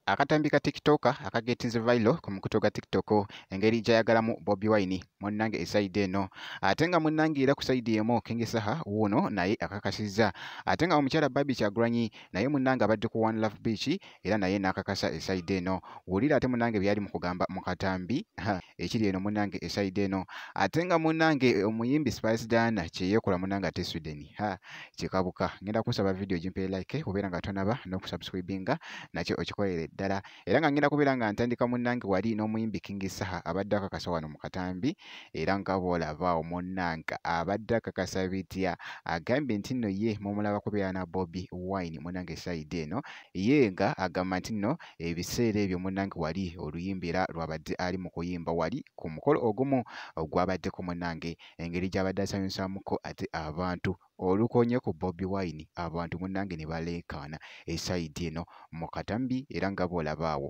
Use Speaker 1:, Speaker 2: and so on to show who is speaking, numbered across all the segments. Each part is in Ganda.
Speaker 1: akatambi ka tiktoka akagetinze vailo ku mukuto gwa tiktok engeri gyayagalamu bobi wine munnange esaidi eno ate nga munnange era ku saidi emu kengesaha wuuno naye akakasizza ate nga omukyala babi kyagulanyi naye munnange abadde ku one love beach era naye n'akakasa esayide eno wulira ate munange byali mu kugamba mu katambi ekiri eno munange esayide eno ate nga munange omuyimbi spice dana kyeyekola munange ate sweden ha kikabuka ngenda kusaba vidiyo gimpere like obeera nga tonaba n'okusubscribinga nakyo okikolere ddala era nga ngenda kubeera nga ntandika munange wali n'omuyimbi king saha abadde akakasa wano mu katambi era nga bwolabaawo munange abadde akakasa bitya agambye nti nno ye mumulaba kubeera na bobi wine munange esayide eno ye nga agamba nti nno ebiseera ebyo munnange wali oluyimba era lwabadde ali mu kuyimba wali ku mukolo ogumu ogwabaddeko munnange engeri gy'abadde asanyusaamuko ate abantu olukonye ku bobi wine abantu munnange ne baleekaana esayidi eno mu katambi era nga bw'olabaawo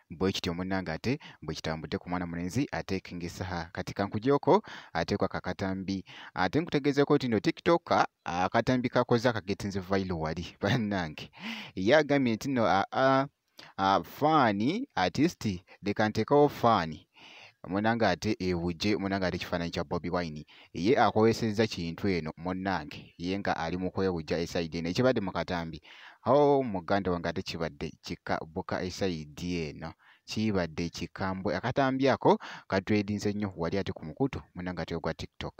Speaker 2: bwekityo
Speaker 1: munange ate bwekitambudde ku mwana mulenzi ate king saha kati kankujoko ate kwa kakatambi ate nkutegezeeko nti no tiktok akatambi kakoze akagetinze vailo wali banange ye agambye nti no aa faani artisti leka nteekawo faani munange ate ebuje munange ate ekifaananyi kya bobi wine ye akozesezza kintu eno munange ye nga ali mu kwewujja esaidi eno ekibadde mu katambi o oh, muganda wange ate kibadde kika buka esaidi eno kibadde kikambwe akatambi ako katwedinze nnyo wali ate ku mukutu munange ate ogwa tiktok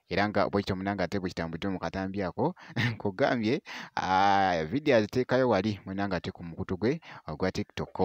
Speaker 1: era nga bwekityo munange ate bwekitambudde mu katambi ako nkugambye vidiyo aziteekayo wali munange ate ku mukutu gwe ogwa tiktok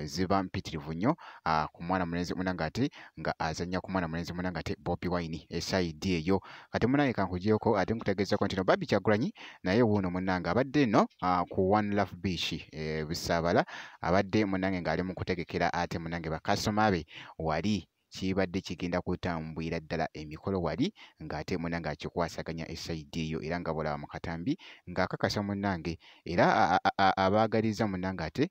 Speaker 1: ziba mpitirivu nnyo ah, ku mwana mulenzi munange ate nga azanya ku mwana mulenzi munange ate bobi wine esaidi eyo kati munange kankujeko ate nkutegeezako ntino babi kyagulanyi naye wuuno munange abadde no ah, ku one love beach e, busaabala abadde munange ng'ali mu kutegekera ate munange bakasoma be wali kibadde kigenda kutambwira ddala emikolo wali ng'ate muna ng'akikwasaganya esaidi eyo era nga bwolaba mu katambi ng'akakasa munnange era abaagaliza munnange ate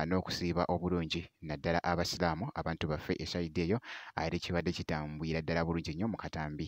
Speaker 1: n'okusiiba obulungi naddala abasiraamu abantu baffe esaidi eyo ate kibadde kitambwira ddala bulungi nnyo mu katambi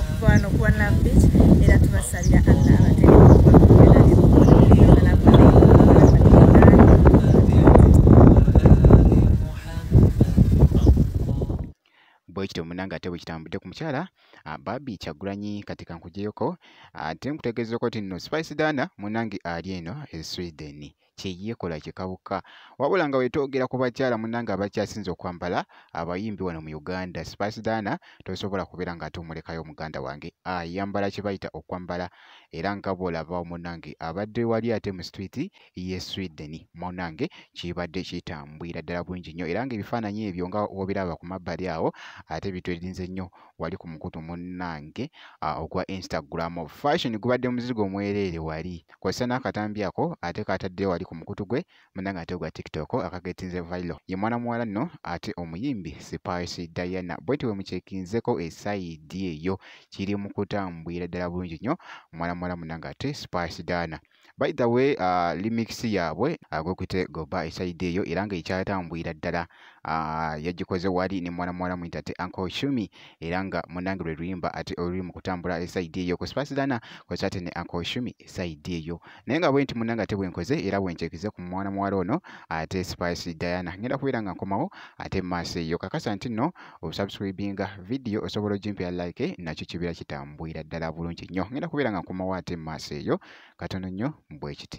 Speaker 3: okuvaano kuwa nabit era
Speaker 1: tubasabira allah bwekityo munange ate bwekitambudde ku mukyala ah, babi kyagulanyi kati kankujeyoko ate ah, nkutegeezeko ti nno spice dana munange ali eno e sweden kyeyekola kikawuka wabula nga wetwogera ku bakyala munange abakyasinze okwambala abayimbi wano mu uganda spasdana tosobola kubeera nga ate omulekayo omuganda wange ayambala kyebayita okwambala era nga bwolaba munange abadde wali ate mu street ye sweden munange kibadde kitambwira ddala bulungi nnyo era nga ebifaananyi ebyo nga wobiraba ku mabbali awo ate bitwerinze nnyo wali ku mukutu munnange uh, ogwa instagram fashion gubadde muzigo omwereere wali kozesa n'akatambi ako ate katadde wali ku mukutu gwe munnange ate ogwa tiktok akagetinze vilo ye mwana muwala nno ate omuyimbi spice diana bweti we mukyekinzeko esayidi eyo kiri mu kutambwira ddala bulungi nnyo mwana muwala munnange ate spice diana by the way uh, remix yaabwe uh, gwekuyite goba esaidi eyo era nga ekyatambwira ddala uh, yagikoze wali ne mwana muwala muyita te uncle shumi era nga munange lwe luyimba ate oluli mu kutambula esaidi eyo ku spasidana kwesa ate ne uncle shumi esaidi eyo naye nga bwenti munange ate bwenkoze era bwenkyekize ku mwana muwala ono ate spice diana ngenda kubeera nga nkomawo ate maaso eyo kakasa nti nno osubscribinga video osobola ogimpera like nakyo kibeera kitambwira ddala bulungi nnyo ngenda kubeera nga nkomawo ate mu maaso eyo katono nnyo bwekiti